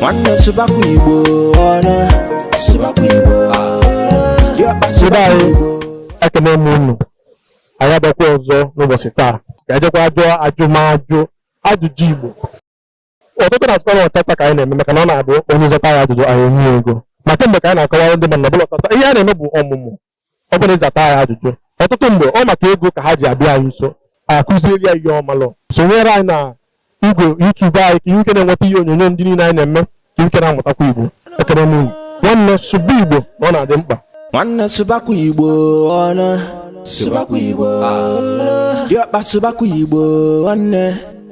nwanne sụbakwa igbo ọnụ sụbakwa igbo diọkpa sụbakwa igbo ekene m unu anyị abịakwa ọzọ n'ụbọchị taa ga-ejekwa jụọ ajụmajụ ajụjụ igbo ọtụtụ na-asịkwa na ọtata ka anyị na-eme maka na ọ na-abụ onye zata ya ajụjụ anyị enye ya ego ma kemgbe ka anyị na-akọwara ndị mmadụ na ọ bụrọ ọtata ihe a na-eme bụ ọmụmụ ọ bụla ịzata ya ajụjụ ọtụtụ mgbe ọ maka ego ka ha ji abịa anyị nso anyị akụziere ya ihe ọ marọ sonyere anyị na igwe YouTube anyị ka i nwee ike na-enweta ihe onyonyo ndị niile anyị na-eme ka i nwee ike na-amụtakwa Igbo ekene m unu nwanne sụba Igbo na ọ na-adị mkpa nwanne sụbakwa Igbo ọnụ sụbakwa Igbo diọkpa sụbakwa Igbo nwanne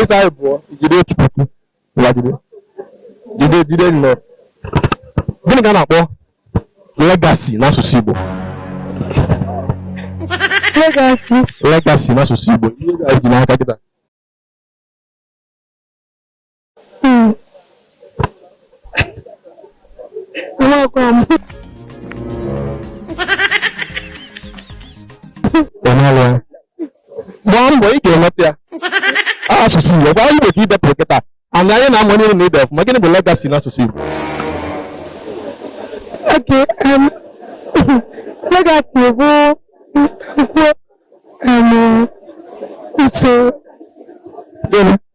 ịsa anyị pụọ jide otu puku lagide jide jide nnọọ gịnị ka a na-akpọ legasi n'asụsụ Igbo legasi n'asụsụ Igbo i rie ego i ji n'aka kịta gbaa mbọ ị ga-enweta ya asụsụ Igbo gwa Igbo ka idepụrụ kịta ana anyị na-amụ onye na ide ọfụma gịnị bụ legasi na asụsụ Igbo legasi um, bụ nkwụ um, usoro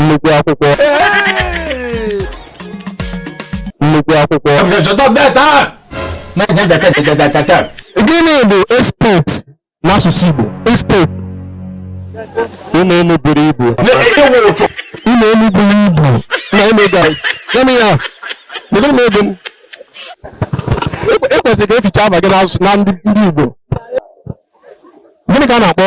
nnukwu akwụkwọ nnukwu akwụkwọ gịnị bụ esteti n'asụsụ Igbo esteti ụlọ elu buru ibu ụlọ elu buru ibu na emega gịnị ya kedu na ebe e kwesịrị ka e fichaa afa gị na ndị Igbo gịnị ka a na-akpọ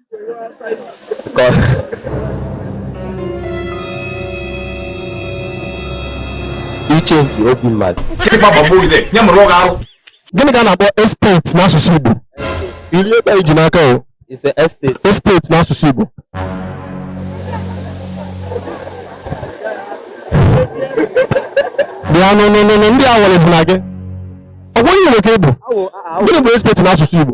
ichenji obi mmadụ gịnị ka a na-akpọ estate n'asụsụ Igbo i rie ego i ji n'aka o estate n'asụsụ Igbo bịa n'ụlọ ndị a nwere na gị ọ bụghị Igbo ka ị bụ gịnị bụ estate n'asụsụ Igbo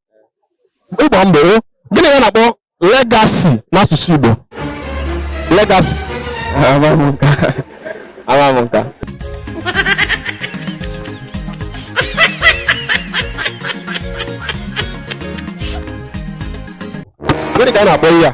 ị gbaa mbọ o gịnị ka a na-akpọ legasi n'asụsụ igbo legasi Amaghị m nke a. Amaghị m nke a. gịnị ka a na-akpọ ihe a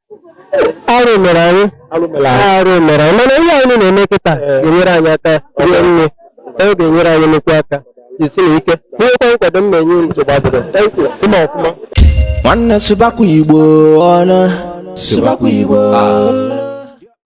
arụ mere anyị Alụ mere anyị. arụ mere anyị mana ihe anyị na-eme kịta ga-enyere anyị aka rie nne ọ ga-enyere anyị nnukwu aka jisinụ ike nwekwa nkwado m na-enye unu nsogbu adịrọ Thank you. Ịma ọfụma nwanne sụbakwa igbo ọnụ sụbakwa igbo